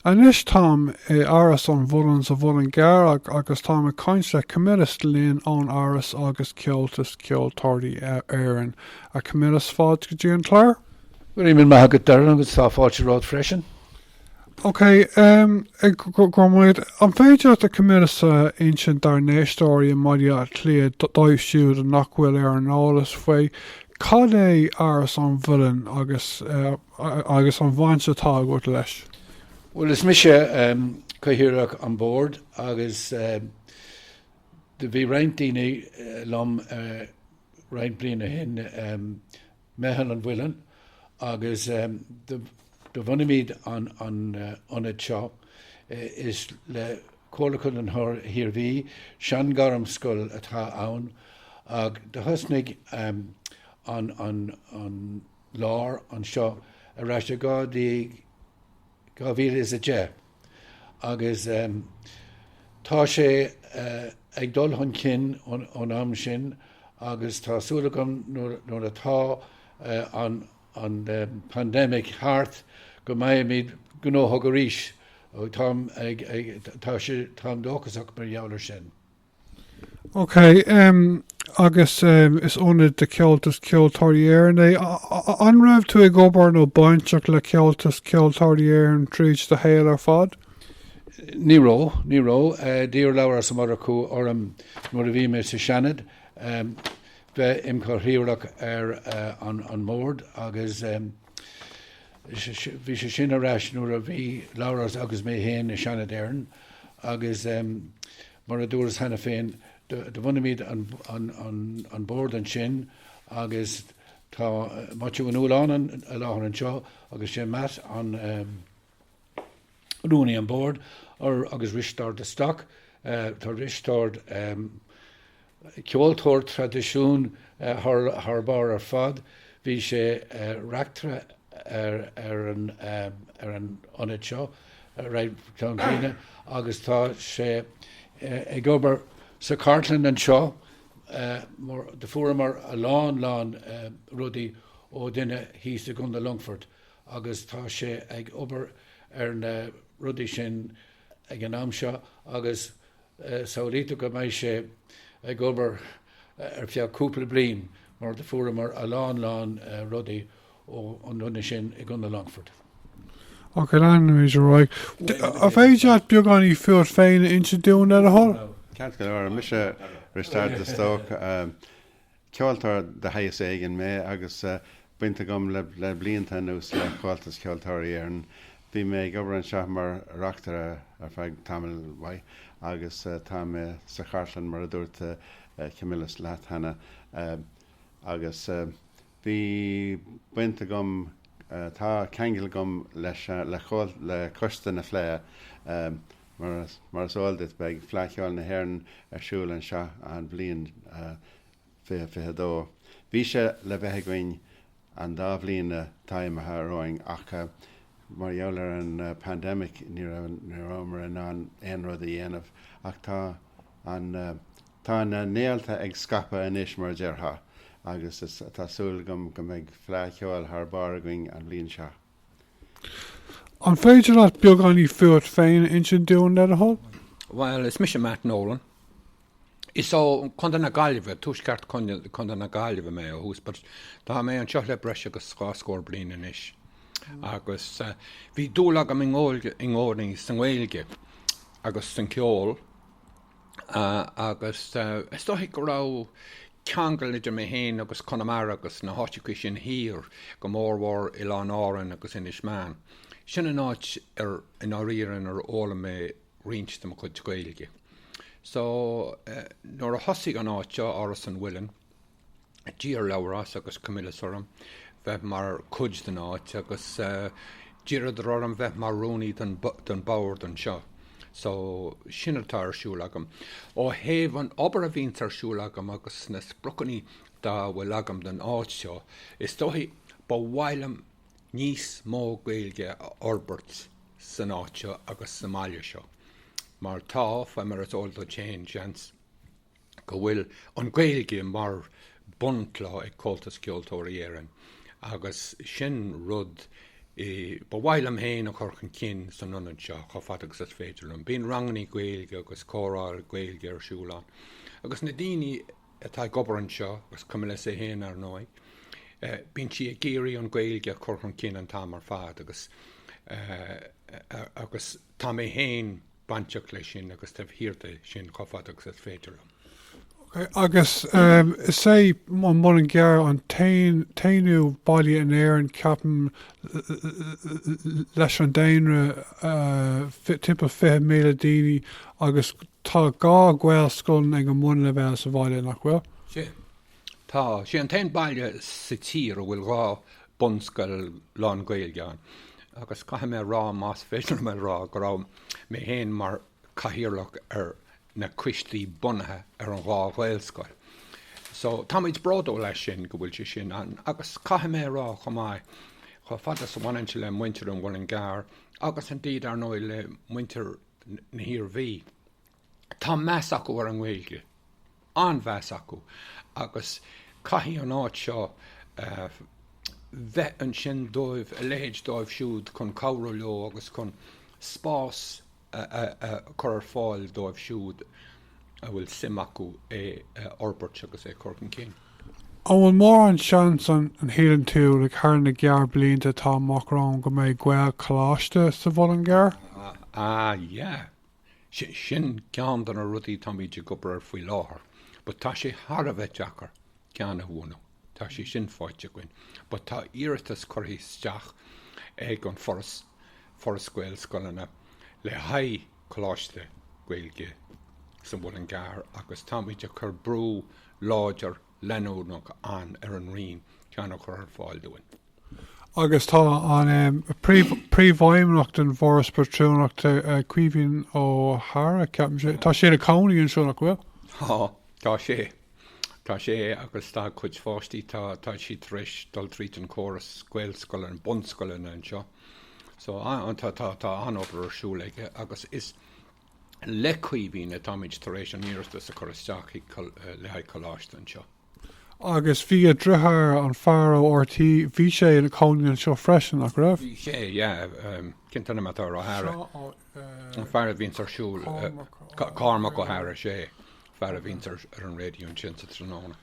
Anois táim i Áras an Mhuilinn sa Mhuileann gCearr agus táim ag caint le Camillus Glynn ón Áras agus Comhaltas Ceoltóirí Éireann. A Camillus, fáilte go dtí an clár. Go raibh míle maith agat Darren agus tá fáilte romhat freisin. Ok, go raibh maith. An féidir leat a Camillus a insint dár n-éisteoirí i mBaile Átha Cliath, dóibh siúd nach bhfuil ar an eolas faoi, cad é Áras an Mhuilinn agus. agus an bhaint atá agat leis. Bhuel is mise Cathaoirleach an Bhoird agus do bhí roinnt daoine liom roinnt bliain o shin, Meitheal an Mhuilinn agus do bhunaímid an ionad seo is le Comhairle Chondae an hIarmhí, seanghairmscoil atá ann ach do thosnaigh an lár anseo ar ais i 2010 agus tá sé ag dul chun cinn ón am sin agus tá súil agam nuair atá an pandemic thart go mbeimid gnóthach arís ó tá sé táim dóchasach mar gheall ar sin. Ok em agus em is ionad de Chomhaltas Ceoltóirí Éireann é. An raibh tú ag obair nó bainteach le Comhaltas Ceoltóirí Éireann tríd do shaol ar fad? Ní raibh, ní raibh. D'iarr Labhrás Ó Murchú orm nuair a bhí mé sa Seanad bheith im chathaoirleach ar an mbord agus bhí sé sin ar ais nuair a bhí Labhrás agus mé féin i Seanad Éireann agus em Mar a dúras cheana féin, do bhunaímid an bord ansin agus tá Maitiú Ó Nualláin i láthair anseo agus sé Matt an rúnaí an bord agus Risteárd de Stóc. Tá Risteárd Ceoltóir traidisiún thar barr ar fad. Bhí sé reachtaire ar an ionad seo roimh Enda agus tá sé ag obair sa chartlann anseo do fuaireamar a lán lán rudaí ó dhuine thíos i gContae Longfoirt agus tá sé ag obair ar na rudaí sin ag an am seo agus Samhlaítear dom go mbeidh sé ag obair ar feadh cúpla bliain mar do fuaireamar a lán lán rudaí ó an nduine sin i gContae Longfort. Ok, leanfaimid ar aghaidh. An féidir leat beagáinín fút féin a insint dúinn le do thoil? Ceart go leor, mise Risteárd de Stóc. Ceoltóir de shaghas éigin mé agus baint agam le blianta anuas le Comhaltas Ceoltóirí Éireann. Bhí mé ag obair anseo mar reachtaire ar feadh tamaill mhaith agus tá mé sa chartlann mar a dúirt Camillus leat cheana agus bhí baint agam, tá ceangal agam leis an, le Coiste na Fleidhe. Mar is eol duit beidh Fleadh Cheoil na hÉireann ar siúl anseo an bhliain 2022. Bhí sé le bheith againn an dá bhliain atá imithe romhainn ach mar gheall ar an bpandemic ní rabhamar in ann aon rud a dhéanamh ach tá an tá na néalta ag scaipeadh anois mar a déarfá agus tá súil agam go mbeidh Fleadh Cheoil thar barr againn an bhliain seo. An féidir leat beagáinín fút féin a insint dúinn, le do thoil? Bhuel, is mise Matt Nolan. Is ó Contae na Gaillimhe, tuaisceart Chontae na Gaillimhe mé ó thús, but tá mé anseo le breis agus dhá scór bliain anois. Agus bhí dúil agam i gcónaí sa nGaeilge agus san ceol. agus is dóigh go raibh ceangal idir mé féin agus Conamara agus na háiteachaí sin thiar, go mórmhór Oileáin Árann agus Inis Meáin. Sin an áit ar, i ndáiríre, inar fhoghlaim mé roinnt de mo chuid Gaeilge. So, nuair a thosaigh an áit seo, Áras an Mhuilinn, D'iarr Labhrás agus Camillus orm bheith mar chuid den áit agus d'iarradar orm bheith mar rúnaí don bord anseo. So, sin atá ar siúl agam. Ó thaobh an obair a bhíonns ar siúl agam agus na spriocannaí atá bhfuil agam don áit seo, is dóigh ba mhaith liom níos mó Gaeilge a fhorbairt san áit seo agus sa mbaile seo. Mar tá, fai mar is eol duit féin, seans. go bhfuil an Ghaeilge mar bunchloch ag Comhaltas Ceoltóirí Éireann agus sin rud ba mhaith liom féin a chur chun cinn san ionad seo chomh fada agus is féidir liom. Bíonn rangannaí Gaeilge agus comhrá Gaeilge ar siúl ann agus na daoine atá ag obair anseo, agus Camillus é féin ar ndóigh, bíonn sé ag iarraidh an Ghaeilge a chur chun cinn an t-am ar fad agus tá mé féin bainteach leis sin agus taobh thiar de sin chomh fada agus is féidir liom. Ok, agus is é an Muileann gCearr an t-aonú baile in Éirinn, ceapaim, leis an daonra timpeall 20,000 daoine agus tá dhá Ghaelscoileanna ag an mBunnleibhéal sa bhaile, nach bhfuil? Sea, Tá sé an t-aon baile sa tír a bhfuil dhá bunscoil lán-Ghaeilge ann agus caithfidh mé a rá, más féidir liom a rá, go raibh mé féin mar chathaoirleach ar na coistí bunaithe ar an dá ghaelscoil. So táimid bródúil as sin go bhfuil sé sin ann agus caithfidh mé a rá chomh maith, chomh fada is a bhaineann sé le muintir an Mhuileann gCearr agus indeed ar ndóigh le muintir na hIarmhí, Tá meas acu ar an nGaeilge, an-mheas acu, agus caithfidh an áit seo a bheith ansin dóibh, a leithéid dóibh siúd chun cabhrú leo agus chun spás a chur ar fáil dóibh siúd a bhfuil suim acu é a fhorbairt agus é a chur chun cinn. An bhfuil mórán seans, an síleann tú, thar na gearrbhlianta atá amach romhainn go mbeidh Gaelcholáiste sa Mhuileann gCearr? Ah, yeah. Sin ceann de na rudaí táimid ag obair ar faoi láthair but tá sé thar a bheith deacair ceann a bhunú. Tá sé sin faighte againn but tá iarratas curtha isteach ag an Foras Gaelscoileanna, le haghaidh coláiste Gaeilge sa Mhuileann gCearr agus táimid ag cur brú láidir leanúnach ann ar an Roinn ceann a chur ar fáil dúinn. Agus tá an príomhfheidhmeannach den bhForas Pátrúnachta, Caoimhín Ó hEaghra, ceapaim, tá sé ina cónaí anseo, nach bhfuil? Tá, tá sé. Tá sé agus tá a cuid pháistí, tá, tá siad tar éis dul tríd an córas gaelscoileanna, bunscoileanna anseo. So, tá, tá, tá an-obair ar siúl aige agus is, le Caoimhín atáimid tar éis an iarratas a chur isteach le haghaidh coláiste anseo. Agus bhí a dheartháir, an fear ó RTÉ, bhí sé ina chónaí anseo freisin, nach raibh? Bhí sé, yeah. Cén t-ainm atá air, O'Hara? An fear a bhíonns ar siúl, Cormac Ó hEaghra, sé fear a bhíonns ar an raidió ansin sa tráthnóna.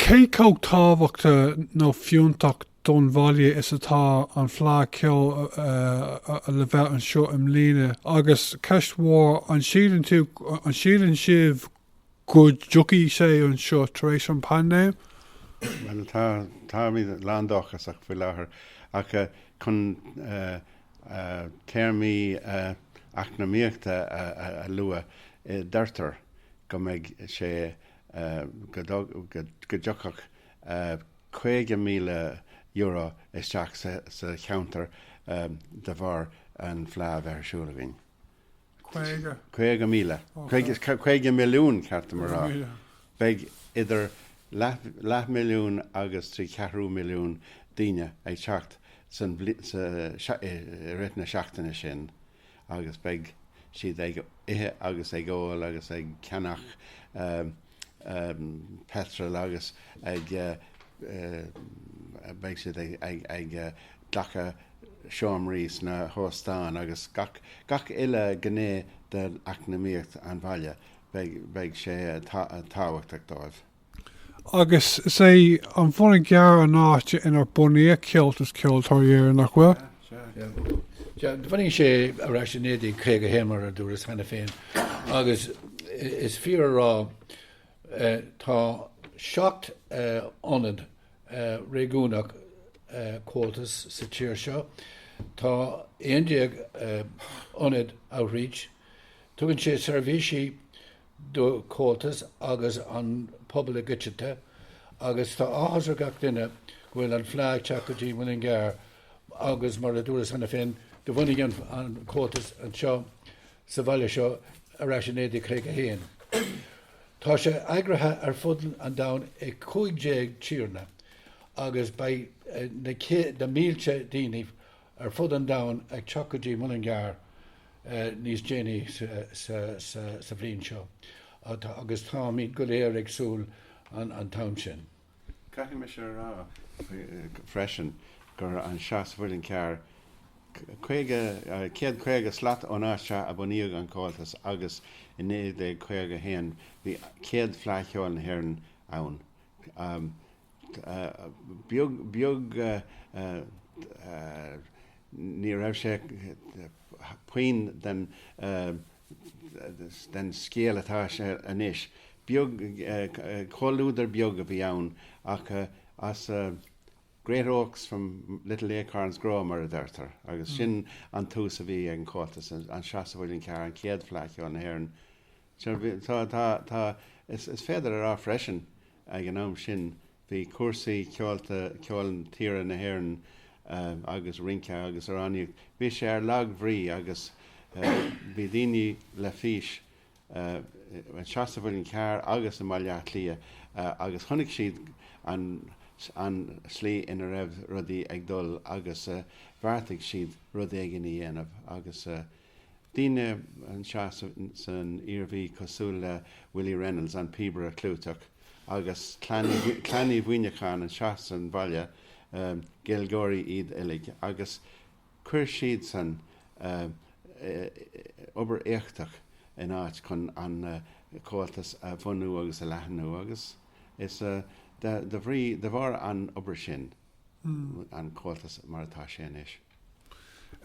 Cé chomh tábhachtach nó fiúntach don bhaile is atá an Fhleadh Cheoil le bheith anseo i mbliana agus ceist mhór an síleann tú, an síleann sibh go dtiocfaidh sé anseo tar éis an paindéim? Bhuel tá, táimid lán dóchasach faoi láthair ach chun téarmaí eacnamaíochta a lua, deirtear go mbeidh sé, go dtiocfadh €50,000 isteach sa cheantar de bharr an fleá a bheith ar siúl againn. Caoga? Caoga míle. Caoga milliún, ceart dom a rá. Beidh idir leath milliún agus trí cheathrú milliún daoine ag teacht i rith na seachtaine sin agus beidh siad ag ithe agus ag ól agus ag ceannach. petrol agus ag beidh siad ag glacadh seomraí sna hóstáin agus gach uile ghné d'eacnamaíocht an bhaile beidh sé tábhachtach dóibh. Agus is é an Muileann gCearr an áit inar bunaíodh Comhaltas Ceoltóirí Éireann, nach bhfuil? Bunaíodh é ar ais i 1951 mar a dúras cheana féin agus is fíor a rá tá seacht n-ionad réigiúnach Comhaltas sa tír seo. Tá 11 ionad Outreach. Tugann sé seirbhísí do Chomhaltas agus don phobal i gcoitianta agus tá áthas ar gach duine go bhfuil an Fhleadh ag teacht go dtí Muileann gCearr agus mar a dúras cheana féin, do bhunaigh an Comhaltas anseo sa bhaile seo ar ais i 1951. Tá sé eagraithe ar fud an domhain i 15 tíortha agus beidh na mílte daoine ar fud an domhain ag teacht go dtí Muileann gCearr níos déanaí sa bhliain seo agus táimid go léir ag súil an t-am sin. Caithfidh mise a rá freisin gur anseo sa Mhuileann Cearr caoga, céad caoga slat ón áit seo a bunaíodh an Comhaltas agus i 1951 bhí céad Fleadh Cheoil na hÉireann ann. Beag beag ní raibh sé pioc den. den scéal atá sé anois. Beag, comhluadar beag a bhí ann ach as great oaks from little acorns grow mar a deirtear agus sin an tús a bhí ag an Chomhaltas, anseo sa Mhuileann Cearr, an chéad Fleadh Cheoil na hÉireann. Is féidir a rá freisin ag an am sin Bhí cúrsaí ceolta, ceol tíre na hÉireann agus rince agus amhránaíocht, bhí sé ar lag bhrí agus bhí daoine le fís anseo sa Mhuileann Cearr agus i mBaile Átha Cliath agus chonaic siad an slí ina raibh rudaí ag dul agus bheartaigh siad rud éigin a dhéanamh agus Daoine anseo san Iarmhí cosúil le Willie Reynolds, an píobaire clúiteach, agus Clann Uí Mhuineacháin anseo san bhaile, Gaeilgeoirí iad uilig agus chuir siadsan obair éachtach in áit chun an Comhaltas a bhunú agus a leathnú agus is de bhrí de bharr an obair sin, an comhaltas mar atá sé anois.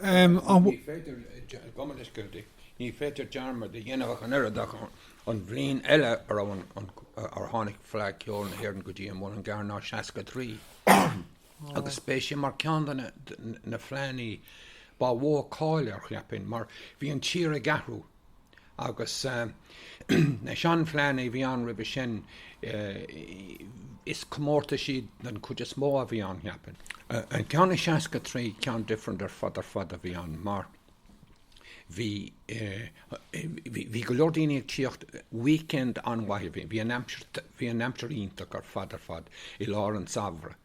Ní féidir, ag gabháil leis go minic, ní féidir dearmad a dhéanamh ach an oiread ach an bhliain eile a raibh an, ar tháinig Fleadh Cheoil na hÉireann go dtí an Muileann gCearr ná 63. Agus beidh sé mar ceann de na, de na fleadhanna ba mhó cáil ar, cheapfainn, mar bhí an tír ag athrú. Agus na seanfhleadhanna a bhí ann roimhe sin, is comórtais iad den chuid is mó a bhí ann, cheapfainn. An ceann i 63, ceann different ar fad ar fad a bhí ann, mar bhí bhí go leor daoine ag tíocht weekend an-mhaith. Bhí an aimsir iontach ar fad ar fad i lár an tsamhraidh.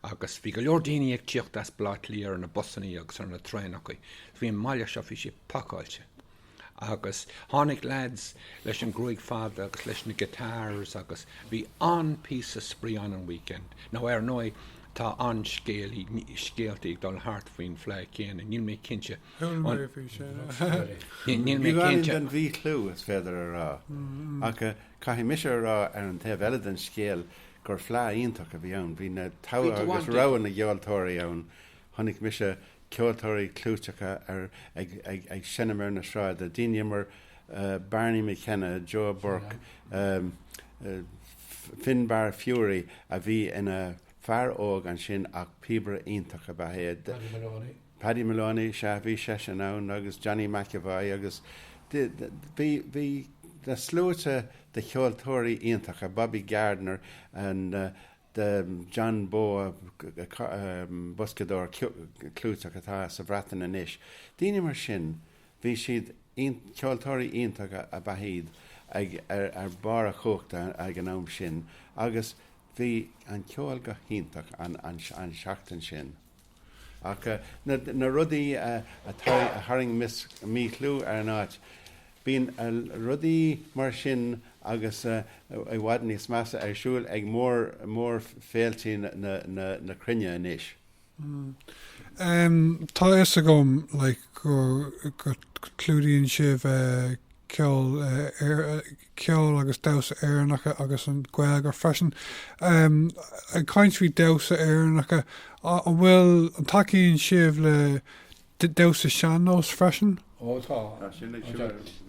agus bhí go leor daoine ag tíocht as Baile Átha Cliath ar na busannaí agus ar na traenachaí faoi an mbaile seo, bhí siad pacáilte agus tháinig lads leis an gruaig fada agus leis na guitars agus bhí an-píosa spraoi ann an weekend, nó ar ndóigh tá an-scéalaí, scéaltaí ag dul thart faoin bhfleadh céanna, níl mé cinnte an, bhí sé, níl mé cinnte, den mhíchlú, is féidir a rá, ach caithfidh mise a rá ar an taobh eile den scéal gur fleadh iontach a bhí ann. Bhí na togha agus rogha na gceoltóirí ann. Chonaic mise ceoltóirí clúiteacha ar ag seinm ar na sráide, daoine mar Barney McKenna, Joe Burke, Finbar Furey a bhí ina fear óg ansin ach píobaire iontach ab ea é. Paddy Moloney. Paddy Moloney, sea, bhí seisean ann agus Johnny McEvoy agus bhí, bhí na sluaite de cheoltóirí iontacha, Bobby Gardiner and the John Bowe, boscadóir clúiteach atá sa Bhreatain anois. Daoine mar sin, bhí siad, ceoltóirí iontacha ab ea iad ag, ar barr a chumhachta ag an am sin agus bhí an ceol go hiontach an, an, an seachtain sin. Ach na rudaí a tharraing míchlú ar an áit, bíonn rudaí mar sin agus i bhfad níos measa ar siúl ag mór-fhéiltí na cruinne anois. Tá a fhios agam go gclúdaíonn sibh ceol ceol agus damhsa Éireannacha agus an Ghaeilge freisin. Ag caint faoi damhsa Éireannacha, an bhfuil, an tacaíonn sibh le damhsa sean-nós freisin? Ó tá.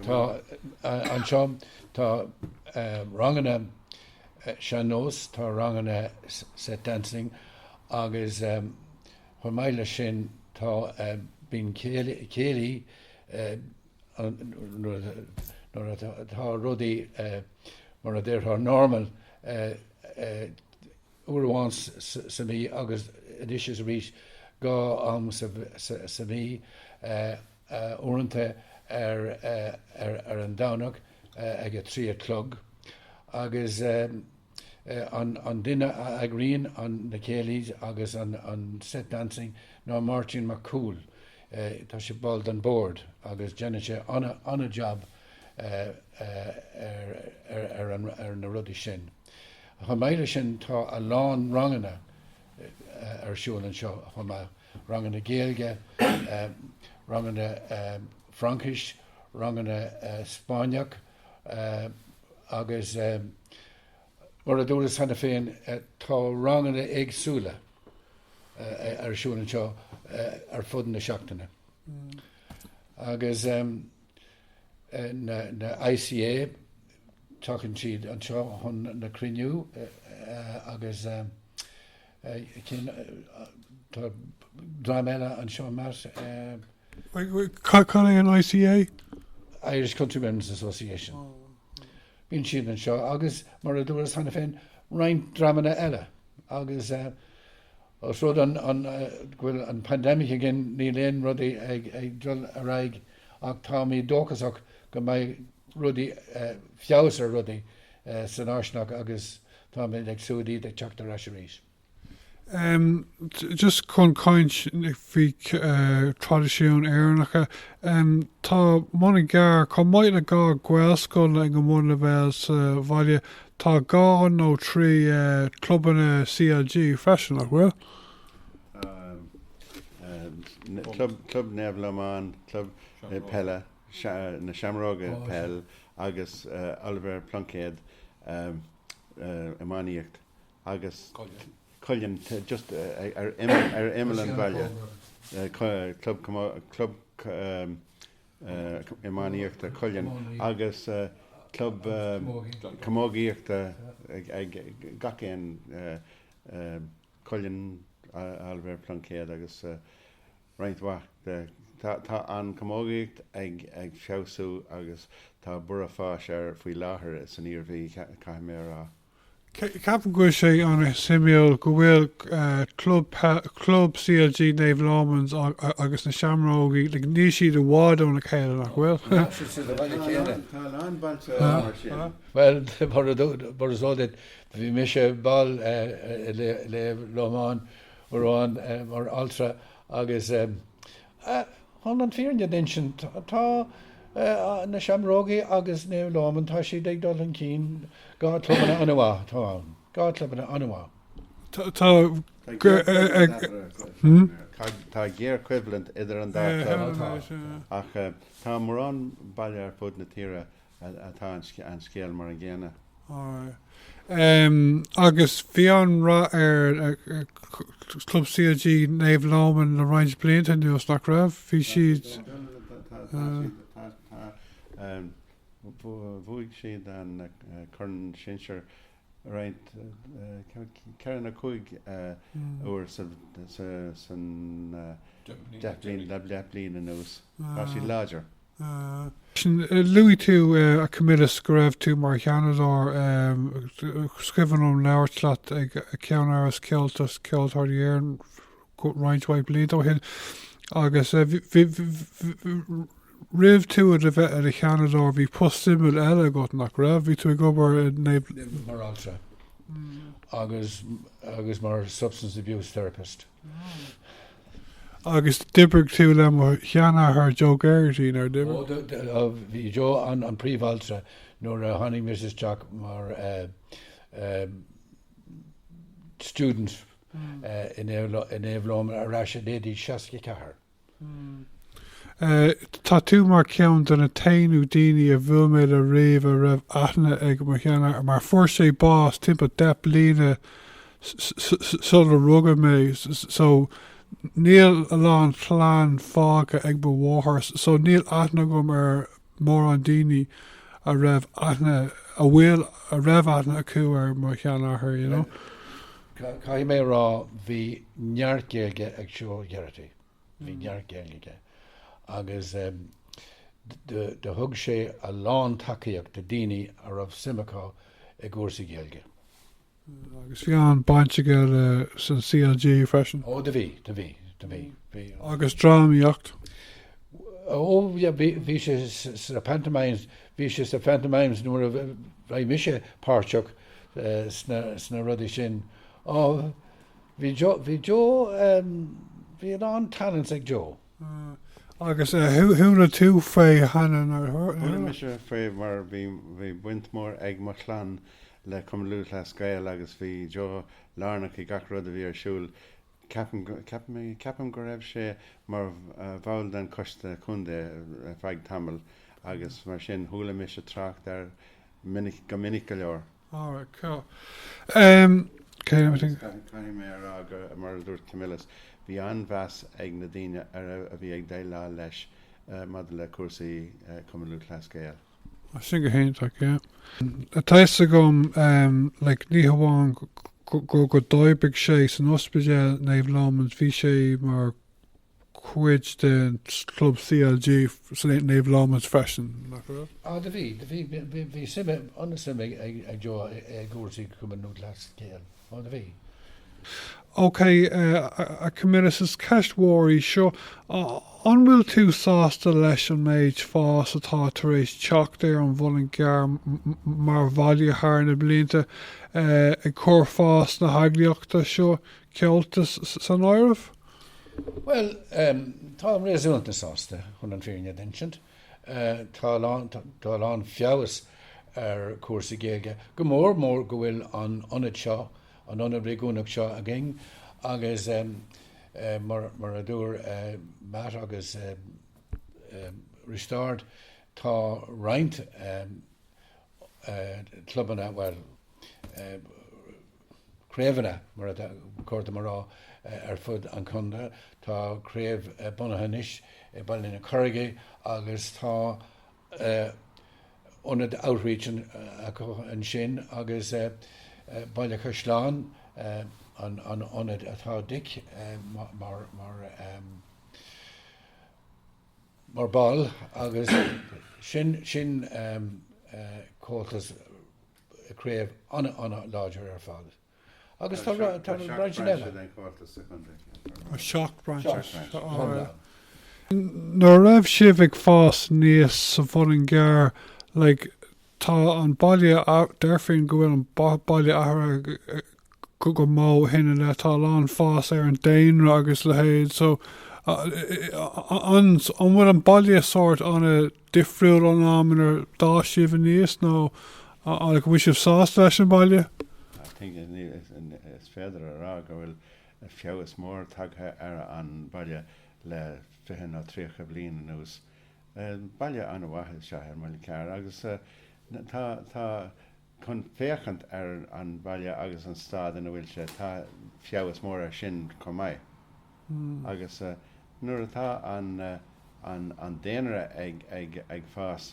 Tá anseo tá ranganna sean-nós, tá ranganna set dancing agus chomh maith leis sin tá bíonn céilí, nuair atá rudaí mar a déarfá normal uair amháin sa mhí agus anois is arís dhá am sa mhí, uaireanta ar an Domhnach ag a trí a chlog agus An duine a eagraíonn na céilí's agus an set dancing ná Máirtín Mac Cumhaill. Tá sé ball den bord agus déanann sé an-jab ar na rudaí sin. Chomh maith leis sin tá a lán ranganna ar siúl anseo chomh maith, ranganna Gaeilge, ranganna Fraincis, ranganna Spáinneach, agus mar a dúras cheana féin tá ranganna éagsúla ar siúl anseo ar fud na seachtaine. Agus na ICA tagann siad anseo chun na cruinniú agus Tá dream eile anseo mar. Cad é an ICA? Irish Country Women's Association. Bíonn siad anseo agus mar a dúras cheana féin roinnt dreamanna eile agus ós rud é go bhfuil an paindéimic againn níl aon rudaí ag dul ar aghaidh ach táimid dóchasach go mbeidh rudaí feabhas ar rudaí san fháistineach agus Táimid ag súil iad ag teacht ar ais arís. Em just chun caint faoi traidisiún Éireannacha, em tá Muileann gCearr, chomh maith le dhá Ghaelscoil ag an mbunleibhéal sa bhaile, tá dhá nó trí eh clubanna CLG freisin, nach bhfuil? Em, em, club, club Naomh Lomán, club eh, peile. na Seamrógaí peil agus Oliver Plunkett iománaíocht agus Cullion just ar imeall an bhaile club club iománaíochta Cullion agus club camógaíochta ag gach aon Cullion Oliver Plunkett agus roinnt mhaith de. Tá an camógaíocht ag feabhsú agus tá borradh fáis air faoi láthair san Iarmhí, caithfidh mé a rá. Ceapaim go bhfuil sé ana suimiúil go bhfuil club peil, club CLG Naomh Lomans agus na Seamrógaí, níl siad i bhfad óna chéile, nach bhfuil? Tá, siad sa bhaile chéile. Tá a lán bailte mar sin. Bhuel, mar is eol duit, bhí mise ball i Naomh Lomán Óran mar altra agus chun an fírinne a insint tá na Seamrógaí agus Naomh Lóman tá siad ag dul chun cinn dhá clubanna an-mhaith atá ann dhá clubanna an-mhaith. Tá Tá géarchoimhlint idir an dá club ach tá mórán baile ar fud na tíre atá an scéal mar an gcéanna. Um agus bhí an-rath ar Club CLG Naomh Lóman le roinnt blianta anuas, nach raibh? Bhí siad. Bhuaigh siad an Corn Sinsear roinnt, ceithre nó cúig uair san deich bliain anuas. Tá siad láidir. Sin, luaigh tú a Camillus go raibh tú mar Sheanadóir, is cuimhin liom labhairt leat ag Ceannáras Comhaltas Ceoltóirí Éireann roinnt mhaith blianta ó shin agus roimh tú a bheith i do Sheanadóir bhí post suimiúil eile agat, nach raibh? Bhí tú ag obair i Naomh. Naomh Muire mar altra agus mar substance abuse therapist. Agus d'oibrigh tú le mo sheanathair Joe Geraghty, nár d'oibrigh? Ó, bhí Joe an príomhaltra nuair a tháinig mise isteach mar student in Naomh Lóman ar ais i 1964. Tá tú mar ceann de na t-aonú daoine a bhuail mé le riamh a raibh aithne ag mo sheanathair, mar fuair sé bás timpeall deich bliana sular rugadh mé so níl a lán chlann fágtha ag mo mháthair so níl aithne agam ar mórán daoine a raibh aithne, a bhfuil, a raibh aithne acu ar mo sheanathair, you know. Caithfidh mé a rá bhí neart Gaeilge ag Joe Geraghty, bhí neart Gaeilge aige agus do thug sé a lán tacaíocht do daoine a raibh suim acu i gcúrsaí Gaeilge. Agus bhí an-bhaint aige leis an CLG freisin. Ó do bhí, do bhí, do bhí, bhí. Agus drámaíocht? Ó yeah bhí, bhí sé sa pantomimes, bhí sé sa phantomimes nuair a bhí mise páirteach sna, sna rudaí sin. Ó bhí Joe, bhí Joe ehm bhí a lán talents ag Joe. Agus who, chuala tú faoi cheana nuair a. Chuala mise fé mar bhí, bhí baint mhór ag mo chlann le Comhaltas Ceoltóirí agus bhí Joe lárnach i gach rud a bhí ar siúl. Ceapaim, ceapaim, ceapaim go raibh sé mar bhall den choiste contae ar feadh tamaill agus mar sin chuala mise trácht air minic, go minic go leor. Alright, cool. Ehm, céard a bhí ag. Agus caithfidh mé a rá gur, mar a dúirt Camillus, bhí an-mheas ag na daoine a raibh, a bhí ag déileáil leis maidir le cúrsaí Cumann Lúthchleas Gael. Á sin go hiontach, yeah. Tá a fhios agam like, ní hamháin go, go d'oibrigh sé san ospidéal Naomh Lomáin bhí sé mar chuid den club CLG Naomh Lomáin freisin. Á do bhí, bhí sé, an-suim ag Joe i gcúrsaí Cumann Lúthchleas Gael. Ó do bhí. OK, a Camillus, is ceist mhór í seo. An bhfuil tú sásta leis an méid fás atá tar éis teacht ar an Muileann gCearr mar bhaile thar na blianta, ag cur fás na heagraíochta seo ceolta san áireamh? Bhuel, táim réasúnta sásta chun an fhírinne a insint. Tá a lán feabhas ar chúrsaí Gaeilge, go mór mór go bhfuil an ionad seo, an ionad réigiúnach seo againn agus mar a dúirt Matt agus Risteárd tá roinnt clubanna, bhuel, craobhanna, mar ba chóir dom a rá, ar fud an chontae. Tá craobh bunaithe anois i Baile na Carraige agus tá ionad outreach acu ansin agus Baile an Chaisleáin an ionad atá Dick mar ball agus sin comhaltas craobh an-láidir ar fad agus tá roinnt cinn eile. Tá seacht bprainse eile. Nuair a raibh sibh ag fás aníos sa Mhuileann gCearr, like, tá an baile, deirfinn go bhfuil an baile athraithe go mór ó shin i leith, tá a lán fás ar an daonra agus leithéid so, an bhfuil an baile sórt an-. difriúil ón am inar d'fhás sibh aníos nó an bhfuil sibh sásta leis an mbaile? Is féidir a rá go bhfuil feabhas mór tagtha ar an mbaile le fiche nó tríocha bliain anuas. Baile an-mhaith is ea an Muileann gCearr agus tá chun féachaint ar an bhaile agus an staid ina bhfuil sé. Tá feabhas mór ar sin chomh maith agus nuair atá an daonra ag fás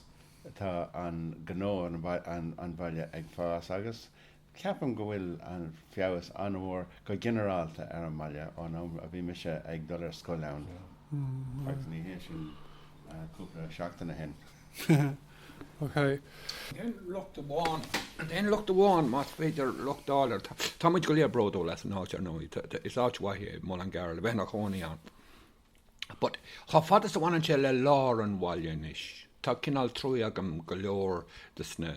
tá an gnó ar an bhaile ag fás agus ceapaim go bhfuil an feabhas an-mhór go ginearálta ar an bhaile ón am a bhí mise ag dul ar scoil ann agus ní hé sin cúpla seachtain o shin. Déan locht amháin, déan locht amháin más féidir locht a fháil air. Tá muid go léir bródúil as an áit ar ndóigh, is áit mhaith é Muileann gCearr le bheith ina chónaí ann. But chomh fada is a bhaineann sé le lár an bhaile anois, tá cineál truaí agam do go leor des na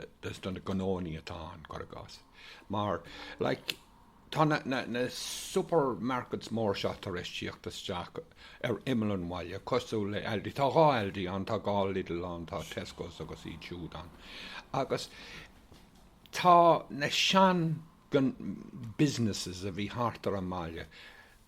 gnónna atá ann, cuir i gcás. Mar, like, Tá na supermarkets mór seo tar éis tíocht isteach ar imeall an bhaile cosúil le Aldi. Tá dhá Aldi ann, tá dhá Lidl ann, tá Tescos agus iad siúd ann. Agus tá na sean businesses a bhí thart ar an mbaile,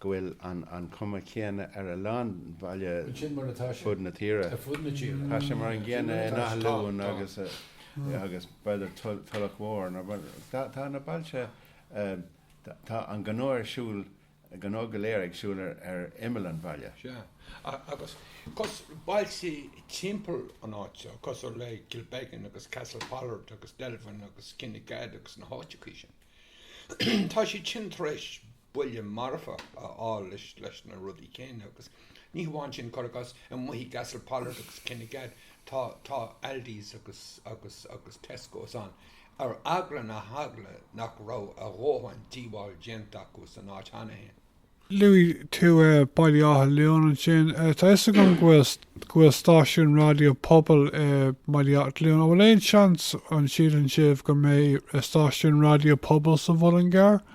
go bhfuil an cuma céanna ar a lán baile fud na tíre. Tá sé mar an gcéanna in Áth Luain agus agus b'fhéidir Tulach Mhór nó tá na bailte tá an gnó ar siúl gnó go léir ag siúl ar ar imeall an bhaile. Sea. Agus 'cos bailte timpeall an áit seo cosúil le Kilbeggan agus Castlepollard agus Delvin agus Kinnegad agus na háiteachaí sin. Tá siad sin tar éis buille marfach a fháil leis na rudaí céanna agus ní hamháin sin, cuir i gcás, i mbailtí Castlepollard agus Kinnegad tá Aldi's agus Tesco's ann ar eagla na heagla nach raibh a ndóthain díobháil déanta acu san áit cheana féin. Luaigh tú Baile Átha Luain ansin. Tá a fhios agam go bhfuil stáisiún raidió pobail i mBaile Átha Luain. An bhfuil aon seans, an síleann sibh, go mbeidh stáisiún raidió pobail sa Mhuileann gCearr?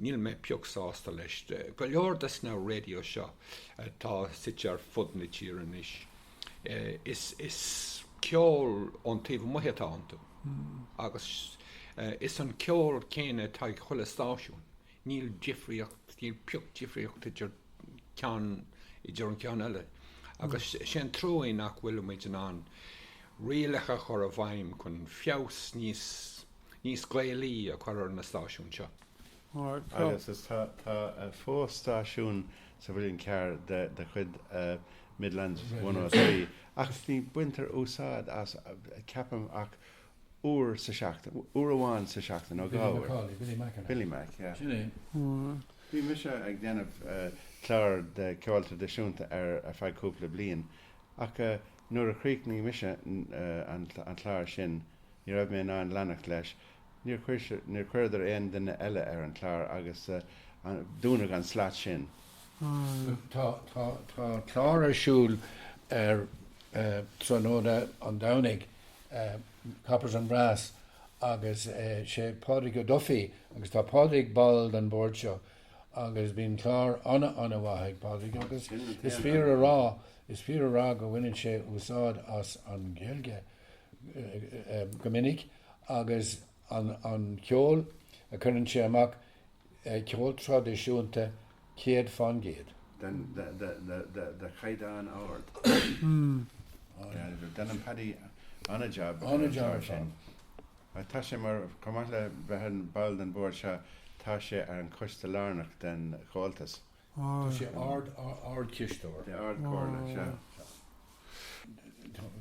Níl mé pioc sásta leis. Go leor des na raidios seo atá suite ar fud na tíre anois, is ceol ón taobh amuigh atá iontu. Agus is an ceol céanna atá ag chuile stáisiún. Níl difríocht, níl pioc difríocht idir ceann, idir an ceann eile. Agus sé an trua é nach bhfuilimid in ann rialacha a chur i bhfeidhm chun blas níos, níos Gaelaí a chur ar na stáisiúin seo. Agus tá fós stáisiún sa Mhuileann gCearr de chuid Midlands One O Three ach ní baintear úsáid as ceapaim ach uair sa seachtain, uair amháin sa seachtain nó dhá uair. Billy Mac Cawley, Billy Mac. Billy Mac, yeah. Sin é. Bhí mise ag déanamh clár de cheol tradisiúnta ar feadh cúpla bliain ach nuair a chríochnaigh mise an clár sin, Ní raibh mé in ann leanacht leis. Níor níor chuireadar aon duine eile ar an clár agus dúnadh an slat sin. Tá tá clár ar siúl ar Tráthnóna an Domhnaigh, Coppers and Brass, agus sé Pádraig Ó Dufaigh agus tá Pádraig ball den bord seo agus bíonn clár ana ana mhaith ag Pádraig agus is fíor a rá is fíor a rá go mbaineann sé úsáid as an Ghaeilge. go minic agus an ceol a chuireann sé amach ceol traidisiúnta céad fán gcéad. de chaighdeán ard. Déanann Paddy an-jab ar an gclár sin. Tá sé mar, chomh maith le bheith ina bhall den bhord seo, tá sé ar an choiste lárnach den Chomhaltas. Tá sé ard, ardchisteoir. Sea, Ardchomhairle, sea, sea.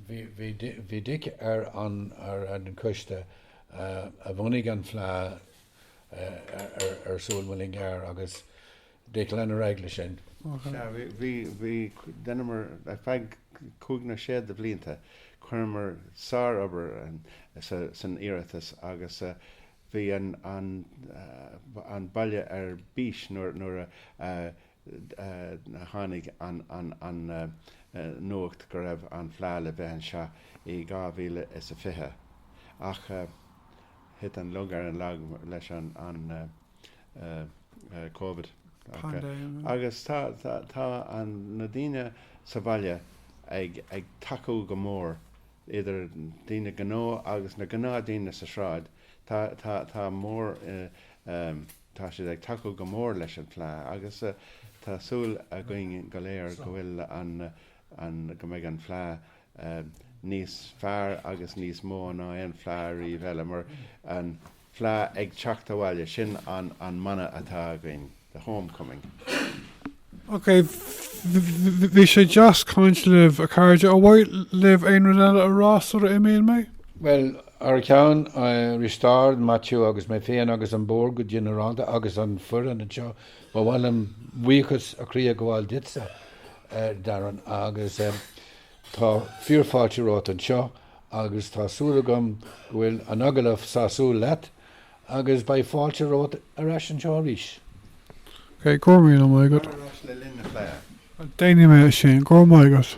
Bhí Dick ar an coiste a bhunaigh an Fleadh ar son Mullingar agus Dick lenar ag le sin. Sea, bhí, bhí, dheineamar, ar feadh cúig nó sé de bhlianta, chuireamar sár-obair san iarratas agus bhí an baile ar bís nuair a tháinig an nuacht go raibh an fleadh le bheith anseo i 2020 ach thit an lug ar an lag leis an Covid agus tá na daoine sa bhaile ag tacú go mór idir daoine gnó agus na gnáth daoine sa tsráid, tá, tá, tá mór ehm, tá siad ag tacú go mór leis an fleá agus tá súil againn go léir go bhfuil an, an, go mbeidh an fleá ehm, níos fearr agus níos mó ná aon fleá ariamh eile mar an, fleadh ag teacht abhaile, sin an mana atá againn, the home coming. Ok, bhí sé deas caint libh, a chairde. Ar mhaith libh aon rud eile a rá sula imíonn mé? Bhuel, thar ceann Risteárd, Maitiú agus mé féin agus an Bord go ginearálta agus an foireann anseo, ba mhaith liom buíochas ó chroí a ghabháil duitse, Darren, agus. Tá fíor fáilte romhat anseo agus tá súil agam go bhfuil an agallamh sásúil leat agus beidh fáilte romhat ar ais anseo arís. Ok, go raibh míle maith agat. Tar ar ais le linn na fleá. Déanfaidh mé é sin, go raibh maith agat.